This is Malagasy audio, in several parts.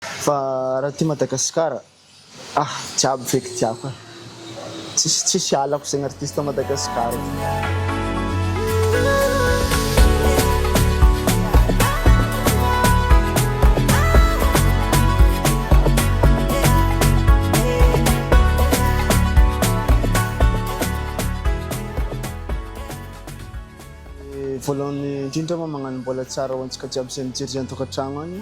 Fa raha aty Madagasikara ah jiaby feky tiako ah tsisy tsisy halako zegny artiste Madagasikara. Voalohany indrindra moa magnano mbola tsara ho antsika jiaby zay mijery zay an-tokantragno agny.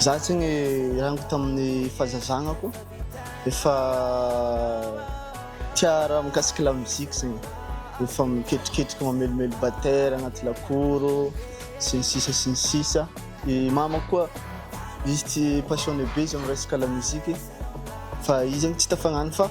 Za tsy ny rango tamin'ny fazazagnako efa tiara mikasika la musique zegny efa miketriketrika mamelomelo batera agnaty lakoro sy ny sisa sy ny sisa i mama koa izy tsy passionné be izy amin'ny resaka la musique fa izy zegny tsy tafagnano fa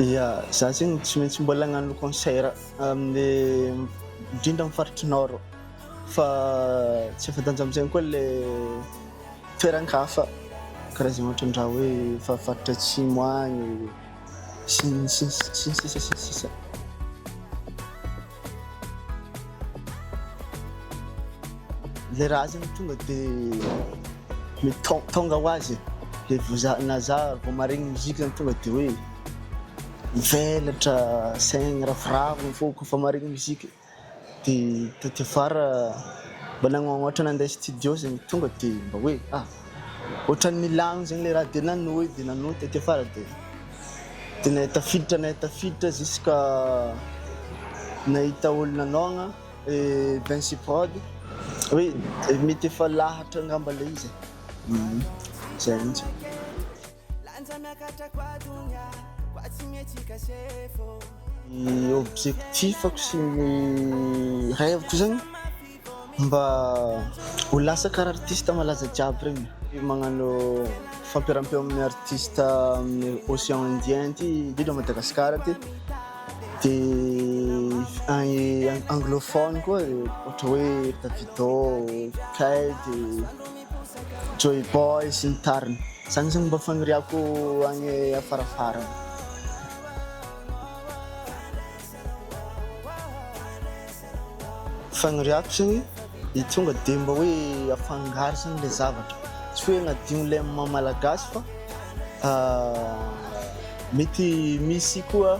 Ia, za zegny tsy maintsy mbola agnano concert amin'ny indrindra amin'ny faritry nord fa tsy fantanja amin'izegny koa le toeran-kafa karaha zay ohatra ndra hoe efa faritra atsimo agny sy ny sisa sy ny sisa sy ny sisa. Le raha zany tonga de mety tong- tonga ho azy de vao za na za vao maharegny musique zany tonga de hoe mivelatra saigny ravoravo ny foko fa maharegny musique de taty afara mba nagnamboatra nandeha studio zegny tonga de mba hoe ah ohatran'ny milagno zegny le raha de nanohy de nanohy taty afara de de nahay tafiditra nahay tafiditra jusqu'à nahita olo nanaogna eh, Vinci Prod hoe eh, mety efa lahatra angamba le izy e. Mhm. Zay mihitsy. Lanja miakatra koa donia koa tsy mihetsika sefo. Ny objectif-ko sy ny rêve-ko zegny mba ho lasa karaha artiste malaza jiaby regny, magnano fampirampio amin'ny artiste amin'ny ocean indien ty, indrindra Madagasikara ty, de anglophone koa ohatra hoe Davido, Kay de. Joyboy sy ny tariny. Zany zany mba faniriako any afarafarany. Faniriako zany dia tonga dia mba hoe afangaro zany ilay zavatra. Tsy hoe hagnadio ilay maha malagasy fa mety misy koa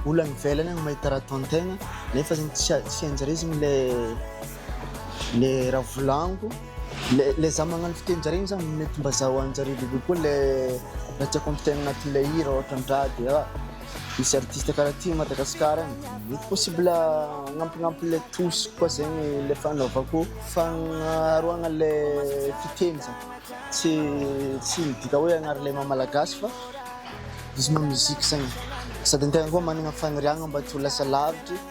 olo any ivelany any mahita raha ataon-tegna nefa zany tsy tsy hainjareo zany ilay. le raha volagniko le le za magnano fiteninjareo igny za mety mba zaho anjareo bebe koa le raha tiako ampitaina agnatin'ilay hira ohatra an-draha de ah misy artiste karaha ty Madagasikara any mety possible agnampignampy le trousse koa zegny le fanaovako fagnaroagna le fiteny zany tsy tsy midika hoe agnaro le maha malagasy fa izy maha musique zegny sady an-tegna koa managna faniriagna mba tsy ho lasa lavitry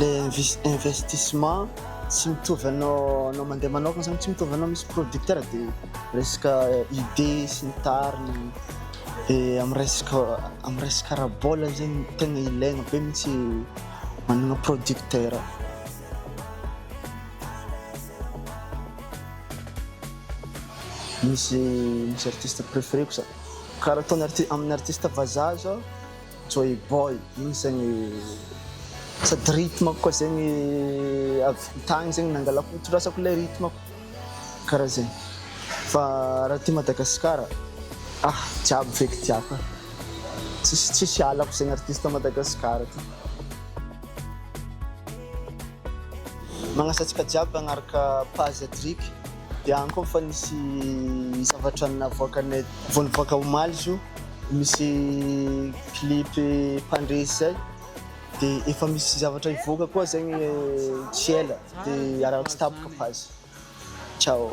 le investissement tsy mitovy anao anao mandeha manokana zany tsy mitovy anao misy producteur de resaka idée sy ny tariny de amin'ny resaka amin'ny resaka ara-bola zegny tegna ilaigna be mihitsy managna producteur misy misy artiste préféreko za karaha ataony arti- amin'ny artiste vazaha zao Joy boy igny zegny sady rythme-ko koa zegny avy tagny zegny nangalako nitondrasako ilay rythme-ko karaha zegny fa raha aty Madagasikara ah jiaby feky tiako e tsisy tsisy halako zegny artiste Madagasikara ty. Magnasa antsika jiaby hagnaraka page Drik Dia any koa fa nisy zavatra navoakanay vao nivoaka omaly izy io, misy clip mpandresy izay dia efa misy zavatra hivoaka koa zegny tsy ela dia iaraho tsy tapaka page. Ciao.